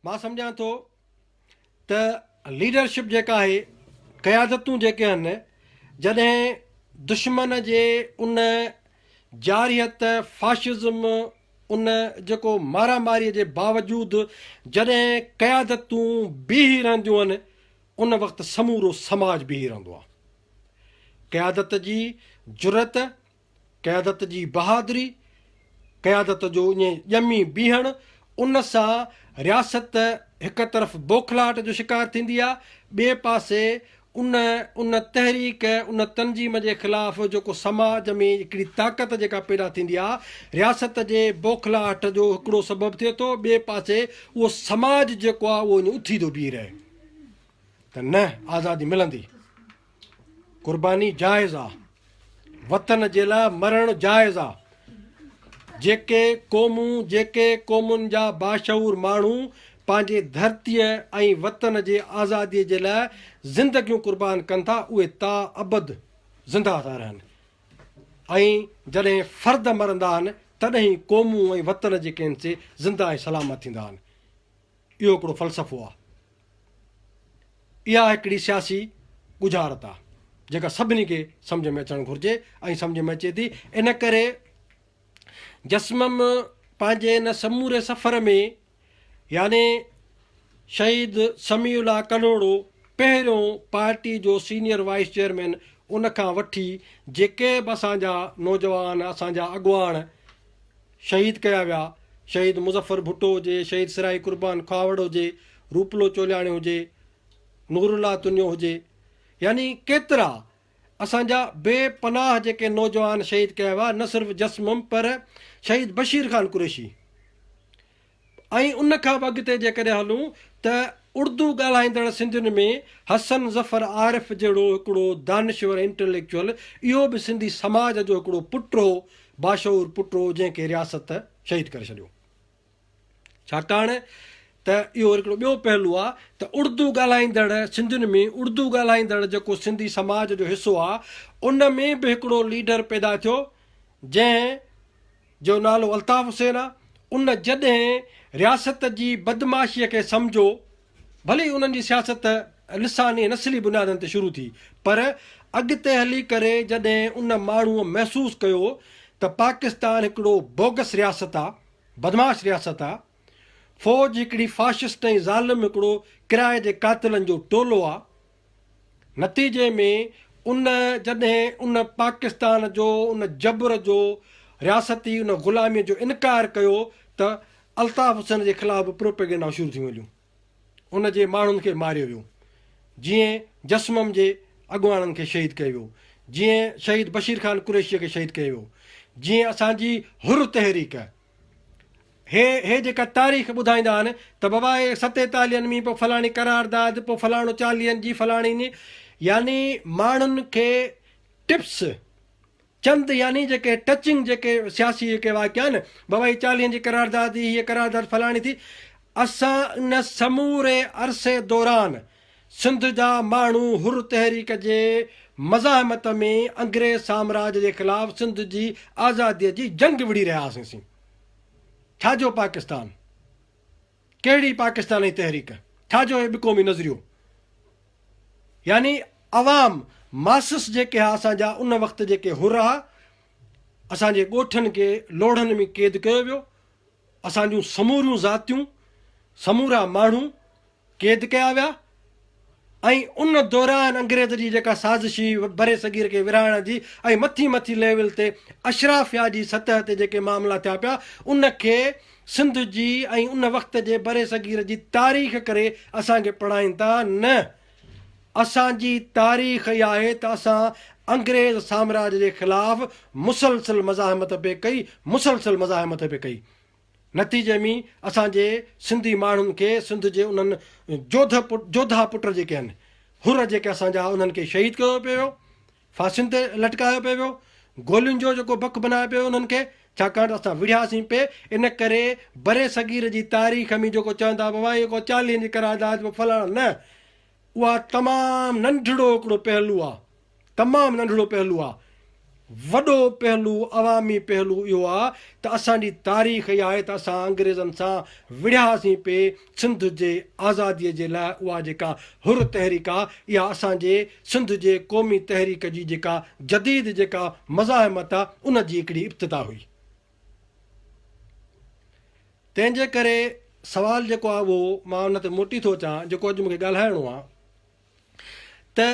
مان سمجهان ٿو ته ليڊرشپ جيڪا آهي قيادتون جيڪي آهن جڏهن دشمن جي ان جارحيت فاشزم ان جيڪو مارا ماري جي باوجود جڏهن قيادتون بيهي رهنديون آهن ان وقت سمورو سماج بيهي رهندو آهي قيادت جي جرئت قيادت جي بهادري، قيادت جو اڃ ڄمي بيهڻ، ان سان رياست هڪ طرف بوکلاهٽ جو شڪار ٿيندي آ، ٻئي پاسي ان ان تحريڪ ان تنظيم جي خلاف جيڪو سماج ۾ هڪڙي طاقت جيڪا پيدا ٿيندي آ، رياست جي بوکلاهٽ جو هڪڙو سبب ٿئي ٿو، ٻئي پاسي اهو سماج جيڪو آ اهو اڃ اٿي ٿو بيهي رهي ته نه آزادي ملندي. قرباني جائز آ، وطن جي لاء مرڻ جائز آ، جيڪي قومون، جيڪي قومن جا باشعور ماڻهو پنهنجي ڌرتيء ۽ وطن جي آزاديء جي لاء زندگيون قربان ڪن ٿا، اهي تا ابد زندهه ٿا رهن ۽ جڏهن فرد مرندا آهن، تڏهن ئي قومون ۽ وطن جيڪي آهن سي زندهه ۽ سلامت ٿيندا آهن. اهو هڪڙو فلسفو آهي. اها هڪڙي سياسي ڳجهارت آهي، جيڪا سڀني کي سمجهه ۾ اچڻ گهرجي ۽ سمجهه ۾ اچي ٿي. ان ڪري جسمم پنهنجي ان سموري سفر ۾ يعني شهيد سميع الله ڪلهوڙو پهريون پارٽي جو سينيئر وائيس چيئرمين ان کان وٺي جيڪي به اسان جا نوجوان اسان جا اڳواڻ شهيد ڪيا ويا، شهيد مظفر ڀٽو هجي، شهيد سرائي قربان کهاوڙ هجي، روپلو چولياڻي هجي، نور الله تنيو هجي يعني ڪيترا اسان جا بي پناهه جيڪي نوجوان شهيد ڪيا ويا نه صرف جسمم پر شهيد بشير خان قريشي ۽ ان کان به اڳتي جيڪڏهن هلون ته اڙدو ڳالهائيندڙ سنڌين ۾ حسن ظفر عارف جهڙو هڪڙو دانشور ۽ انٽليڪچوئل اهو به سنڌي سماج جو هڪڙو پٽ هو، باشعور پٽ هو جنهن کي رياست شهيد ڪري ڇڏيو. ڇاڪاڻ ته اهو وري هڪڙو ٻيو پهلو آ ته اڙدو ڳالهائيندڙ سنڌين ۾ اڙدو ڳالهائيندڙ جيڪو سنڌي سماج جو حصو آ ان ۾ به هڪڙو ليڊر پيدا ٿيو جنهن جو نالو الطاف حسين آ ان جڏهن رياست جي بدمعاشي کي سمجهو ڀلي ئي انهن جي سياست لساني نسلي بنيادن تي شروع ٿي پر اڳتي هلي ڪري جڏهن ان ماڻهو محسوس ڪيو ته پاڪستان هڪڙو بوگس رياست آ بدمعاش رياست آ فوج هڪڙي فاشسٽ ۽ ظالم هڪڙو ڪرائي جي قاتلن جو ٽولو آ. نتيجي ۾ ان جڏهن ان پاڪستان جو ان جبر جو رياستي ان غلامي جو انڪار ڪيو ته الطاف حسين جي خلاف به پروپيگنڊائون شروع ٿيون هليون ان جي ماڻهن کي ماريو ويو جيئن جسمم جي اڳواڻن کي شهيد ڪيو ويو جيئن شهيد بشير خان قريشيء کي شهيد ڪيو ويو جيئن اسان جي حر تحريڪ هي هي جيڪا تاريخ ٻڌائيندا آهن ته بابا هي ستين تالين ۾ پوء فلاڻي قرارداد پوء فلاڻو چاليهن جي فلاڻي ني يعني ماڻهن کي ٽپس چند يعني جيڪي ٽچنگ جيڪي سياسي جيڪي واقعا آهن بابا هي چاليهن جي قرارداد هي قرارداد فلاڻي ٿي اسان ان سموري عرصي دوران سنڌ جا ماڻهو حر تحريڪ جي مزاحمت ۾ انگريز سامراج جي خلاف سنڌ جي آزادي جي جنگ وڙهي رهيا هئاسين سين ڇا جو پاڪستان ڪهڙي پاڪستاني تحريڪ ڇا جو هي ٻقومي نظريو يعني عوام ماسس جيڪي ها اسان جا ان وقت جيڪي حر ها اسان جي ڳوٺن کي لوڙهن ۾ قيد ڪيو ويو اسان جون سموريون ذاتيون، سمورا ماڻهو قيد ڪيا ويا ۽ ان دوران انگريز جي جيڪا سازش هئي برصغير کي ورهائڻ جي ۽ مٿي مٿي ليول تي اشرافيا جي سطح تي جيڪي معاملا ٿيا پيا ان کي سنڌ جي ۽ ان وقت جي برصغير جي تاريخ ڪري اسان کي پڙهائين ٿا نه اسان جي تاريخ اها آهي ته اسان انگريز سامراج جي خلاف مسلسل مزاحمت به ڪئي مسلسل مزاحمت به ڪئي نتيجي ۾ اسان جي سنڌي ماڻهن کي سنڌ جي انهن جوڌه جوڌا پٽ جيڪي آهن حر جيڪي اسان جا انهن کي شهيد ڪيو پيو ڦاسين تي لٽڪايو پئي ويو، گولين جو جيڪو بک بنايو پيو انهن کي، ڇاڪاڻ ته اسان وڙهياسين پئي، ان ڪري برصغير جي تاريخ ۾ جيڪو چوندا به هئا اهو ڪو چاليهن جي قرارداد به فلاڻو نه، اها تمام ننڍڙو هڪڙو پهلو آ، تمام ننڍڙو پهلو آ، وڏو پهلو عوامي پهلو اهو آ ته اسان جي تاريخ اها آهي ته اسان انگريزن سان وڙهياسين پئي، سنڌ جي آزاديء جي لاء اها جيڪا حر تحريڪ آ، اها اسان جي سنڌ جي قومي تحريڪ جي جيڪا جديد جيڪا مزاحمت آ، ان جي هڪڙي ابتدا هئي. تنهن جي ڪري سوال جيڪو آ اهو مان ان تي موٽي ٿو اچان جيڪو اڄ مون کي ڳالهائڻو آ، ته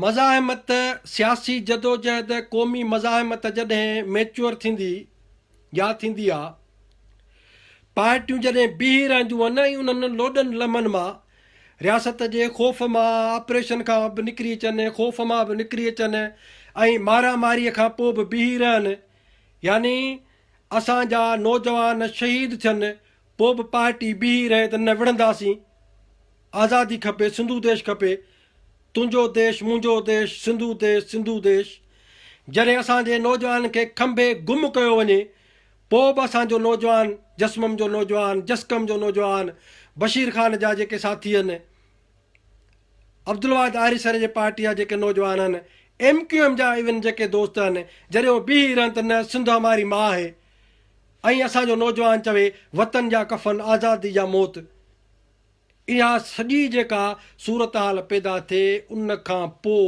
مزاحمت، سياسي جدوجهد، قومي مزاحمت جڏهن ميچوئر ٿيندي يا ٿيندي ها، پارٽيون جڏهن بيهي رهنديون هن ۽ انهن لوڏن لمحن مان رياست جي خوف مان، آپريشن کان به نڪري اچن، خوف مان به نڪري اچن ۽ مارا ماريء کان پوء به بيهي رهن، يعني اسان جا نوجوان شهيد ٿين، پوء به پارٽي بيهي رهي ته نه وڙهنداسين. آزادي کپي سنڌو ديش کپي تنهنجو ديش منهنجو ديش سنڌو ديش سنڌو ديش جڏهن اسان جي نوجوانن کي کنڀي گم ڪيو وڃي پوء به اسان جو نوجوان جسمم جو نوجوان جسقم جو نوجوان بشير خان جا جيڪي ساٿي هن عبدالواحد آريسر جي پارٽي جا جيڪي نوجوان هن ايم ڪيو ايم جا ايون جيڪي دوست هن جڏهن هو بيهي رهن ته نه سنڌ هماري ماء هي ۽ اسان جو نوجوان چوي وطن جا ڪفن آزادي جا موت اها سڄي جيڪا صورتحال پيدا ٿئي ان کان پوء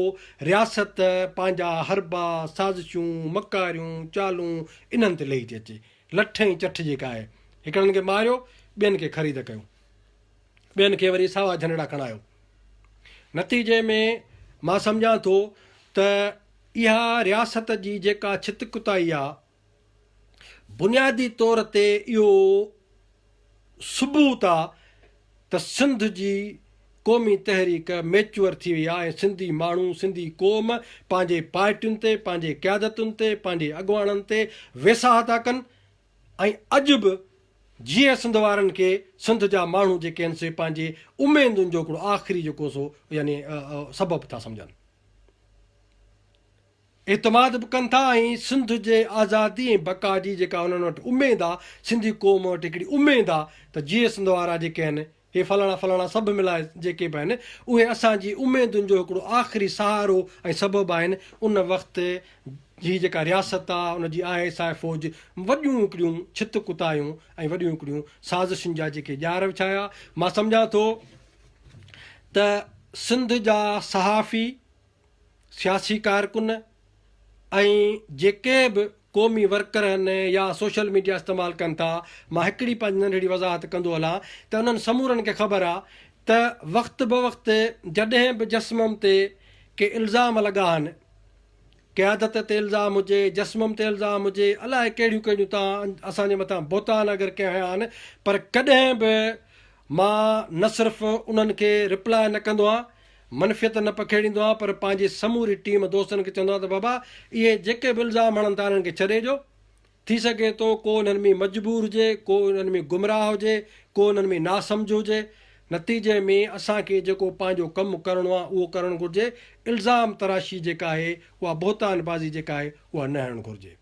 رياست پنهنجا حربا، سازشون، مڪاريون، چالون انهن تي لهي ٿي اچي. لٺ ۽ چٺ جيڪا آهي. هڪڙن کي ماريو، ٻين کي خريد ڪيو. ٻين کي وري ساوا جهنڊڙا کڻايو. نتيجي ۾ مان سمجهان ٿو ته اها رياست جي جيڪا ڇت ڪتائي آ، بنيادي طور تي اهو ثبوت آ ته سنڌ جي قومي تحريڪ ميچوئر ٿي وئي آ ۽ سنڌي ماڻهو، سنڌي قوم پنهنجي پارٽين تي، پنهنجي قيادتن تي، پنهنجي اڳواڻن تي ويساهه ٿا ڪن ۽ اڄ به جيئن سنڌ وارن کي سنڌ جا ماڻهو جيڪي آهن سي پنهنجي اميدن جو هڪڙو آخري جيڪو سو يعني سبب ٿا سمجهن. اعتماد به ڪن ٿا ۽ سنڌ جي آزادي ۽ بقا جي جيڪا انهن وٽ اميد آ، سنڌي قوم وٽ هڪڙي اميد آ ته جيئي سنڌ وارا جيڪي آهن، هي فلاڻا فلاڻا سڀ ملائي جيڪي به آهن، اهي اسان جي اميدن جو هڪڙو آخري سهارو ۽ سبب آهن، ان وقت هي جيڪا رياست آ، ان جي آء ايس آء فوج وڏيون هڪڙيون ڇت ڪتايون ۽ وڏيون هڪڙيون سازشن جا جيڪي ڄار وڇايا، مان سمجهان ٿو ته سنڌ جا صحافي. سياسي ڪارڪن ۽ جيڪي به قومي ورڪر آهن يا سوشل ميڊيا استعمال ڪن ٿا، مان هڪڙي پنهنجي ننڍڙي وضاحت ڪندو هلان ته انهن سمورن کي خبر آهي ته وقت بوقت جڏهن به جسمم تي ڪي الزام لڳا آهن، قيادت تي الزام هجي، جسمم تي الزام هجي، الائي ڪهڙيون ڪهڙيون ته اسان جي مٿان بهتان اگر ڪي هنيا آهن پر ڪڏهن به مان نه صرف انهن کي رپلاء نه ڪندو آهيان، منفيت نه پکيڙيندو آهيان پر پنهنجي سموري ٽيم دوستن کي چوندو آهيان ته بابا اهي جيڪي به الزام هڻن ٿا انهن کي ڇڏي ڏيو ٿي سگهي ٿو ڪو انهن ۾ مجبور هجي ڪو انهن ۾ گمراهه هجي ڪو انهن ۾ ناسمجهه هجي نتيجي ۾ اسان کي جيڪو پنهنجو ڪم ڪرڻو آهي اهو ڪرڻ گهرجي الزام تراشي جيڪا آهي اها بهتان بازي جيڪا آهي اها نه هڻڻ گهرجي.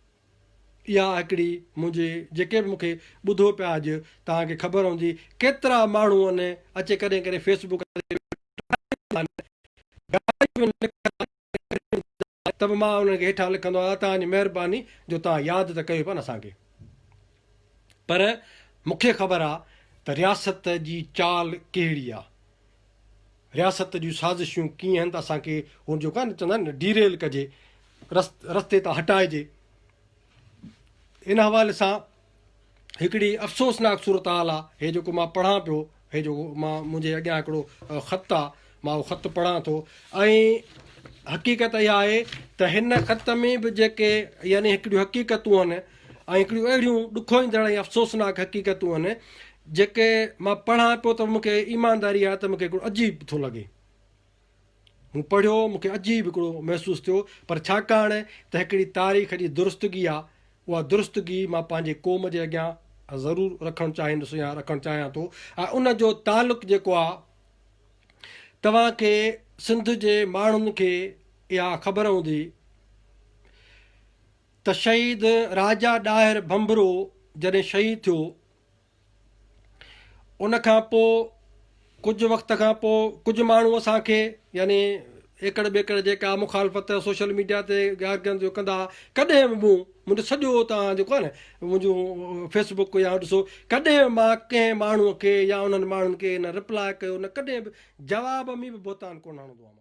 اها هڪڙي منهنجي جيڪي به مونکي ٻڌو پيا اڄ توهان کي خبر هوندي ڪيترا ماڻهو ان اچي ڪڏهن ڪڏهن فيس بڪ تي ويٺا هوندا آهن ته به مان انهن کي هيٺان لکندو آهيان توهان جي مهرباني جو توهان ياد ته ڪيو پيا نه اسان کي پر مونکي خبر آهي ته رياست جي چال ڪهڙي آهي رياست جون سازشون ڪيئن هن ته اسان کي هو جيڪو آهي نه چوندا آهن ڊيريل ڪجي رس رستي تان هٽائجي ان حوالي سان هڪڙي افسوسناڪ صورتحال آ هي جيڪو مان پڙهان پيو هي جو مان منهنجي اڳيان هڪڙو خط آ مان اهو خط پڙهان ٿو ۽ حقيقت اها آهي ته هن خط ۾ به جيڪي يعني هڪڙيون حقيقتون آهن ۽ هڪڙيون اهڙيون ڏکوئيندڙ ۽ افسوسناڪ حقيقتون آهن جيڪي مان پڙهان پيو ته مون کي ايمانداري آهي ته مون کي هڪڙو عجيب ٿو لڳي. مون پڙهيو مون کي عجيب هڪڙو محسوس ٿيو پر ڇاڪاڻ ته هڪڙي تاريخ جي درستگي آهي اها درستگي مان پنهنجي قوم جي اڳيان ضرور رکڻ چاهيندس يا رکڻ چاهيان ٿو ۽ ان جو تعلق جيڪو آهي توهان کي سنڌ جي ماڻهن کي اها خبر هوندي ته شهيد راجا ڏاهر ڀنڀرو جڏهن شهيد ٿيو ان کان پوء ڪجهه وقت کان پوء ڪجهه ماڻهو اسان کي يعني ايڪڙ ٻيڪڙ جيڪا مخالفت سوشل ميڊيا تي گارگن جو ڪندا ڪڏهن به مون منهنجو سڄو تان جيڪو آهي نه منهنجو فيس بڪ يا ڏسو ڪڏهن مان ڪنهن ماڻهو کي يا انهن ماڻهن کي نه رپلاء ڪيو نه ڪڏهن به جواب ۾ به بهتان ڪونه هڻندو آهيان